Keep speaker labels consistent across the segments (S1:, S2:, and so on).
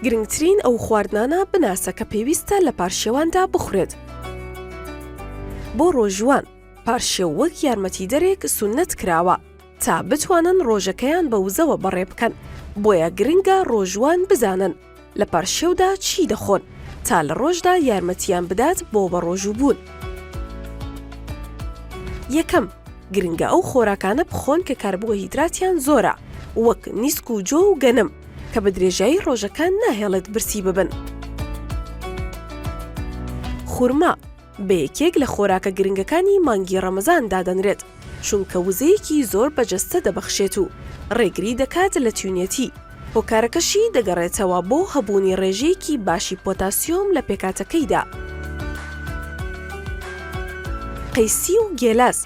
S1: گرنگترین ئەو خواردنانە بناسە کە پێویستە لە پارشێواندا بخورێت بۆ ڕۆژوان پارشێو وەک یارمەتیدەرێک سونەت کراوە تا بتوانن ڕۆژەکەیان بە وزەوە بەڕێ بکەن بۆیە گرنگە ڕۆژوان بزانن لە پارشێودا چی دەخۆن تا لە ڕۆژدا یارمەتیان بدات بۆ بەڕۆژوو بوون؟ یەکەم، گرنگە ئەو خۆراکانە بخۆن کە کاربۆهیدراتیان زۆرە وەک نیسک و جۆ و گەنم کە بە درێژایی ڕۆژەکە ناهێڵێت برسی ببن. خورما. بە یەکێک لە خۆراکە گرنگەکانی مانگی ڕەمەزان دادەنرێت، چونکە وزەیەکی زۆر بە جەستە دەبەخشێت و ڕێگری دەکات لە تینوێتی، هۆکارەکەشی دەگەڕێتەوە بۆ هەبوونی ڕێژەیەکی باشی پۆتاسیۆم لە پێکهاتەکەیدا. قەیسی و گێلاس،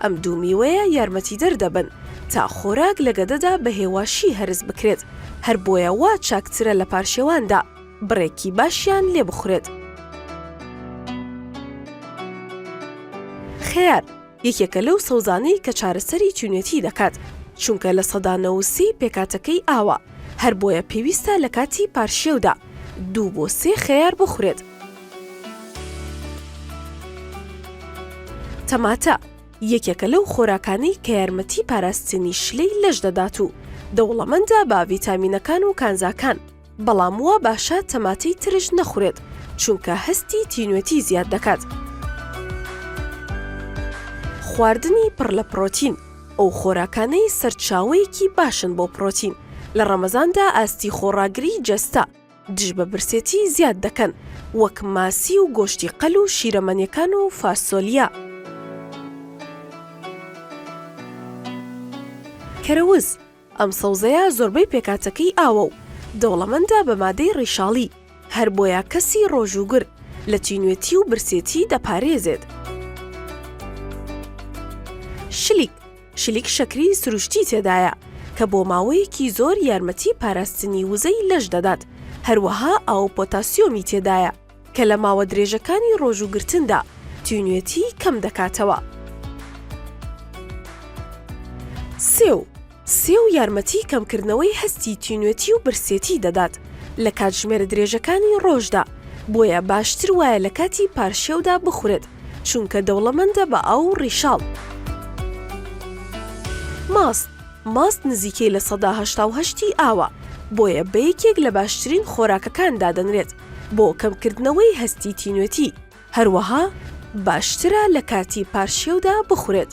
S1: ئەم دوو میوەیە یارمەتیدەر دەبن تا خۆراک لە گەدەدا بە هێواشی هەرس بکرێت، هەر بۆیە وا چاکترە لە پارشێواندا. بڕێکی باشیان لێ بخورێت. خەیار، یەکێکە لەو سەوزانەی کە چارەسەری تینوێتی دەکات، چونکە لە سەدا نەوەد سی پێکهاتەکەی ئاوە، هەر بۆیە پێویستە لە کاتی پارشێودا دوو بۆ سێ خەیار بخورێت. تەماتە، یەکێکە لەو خۆراکانەی کە یارمەتی پاراستنی شلەی لەش دەدات و دەوڵەمەندە بە ڤیتامینەکان و کانزاکان، بەڵام وا باشە تەماتەی ترش نەخورێت چونکە هەستی تینوێتی زیاد دەکات. خواردنی پڕ لە پرۆتین ئەو خۆراکانەی سەرچاوەیەکی باشن بۆ پرۆتین لە ڕەمەزاندا ئاستی خۆڕاگری جەستە دژ بە برسێتی زیاد دەکەن وەک ماسی و گۆشتی قەل و شیرەمەنیەکان و فاسۆلیا. کەرەوز ئەم سەوزەیە زۆربەی پێکاتەکەی ئاوە و دەوڵەمەندە بە مادەی ڕیشاڵی، هەر بۆیە کەسی ڕۆژ و گر لە تینوێتی و برسێتی دەپارێزێت. شلیک، شلیک شەکری سروشتی تێدایە کە بۆ ماوەیەکی زۆر یارمەتی پاراستنی وزەی لەش دەدات، هەروەها ئاو و پۆتاسیۆمی تێدایە. کە لە ماوە درێژەکانی ڕۆژوو گرتندا تینوێتی کەم دەکاتەوە. سێو، سێو یارمەتی کەمکردنەوەی هەستی تینوێتی و برسێتی دەدات لە کاتژمێرە درێژەکانی ڕۆژدا، بۆیە باشتر وایە لە کاتی پارشێودا بخورێت، چونکە دەوڵەمەندە بە ئاو و ڕیشاڵ. ماست، ماست نزیکەی لە سەدا هەشتا و هەشت ی ئاوە، بۆیە بە یەکێک لە باشترین خۆراکەکان دادەنرێت. بۆ کەمکردنەوەی هەستی تینوێتی، هەروەها باشترە لە کاتی پارشێودا بخورێت.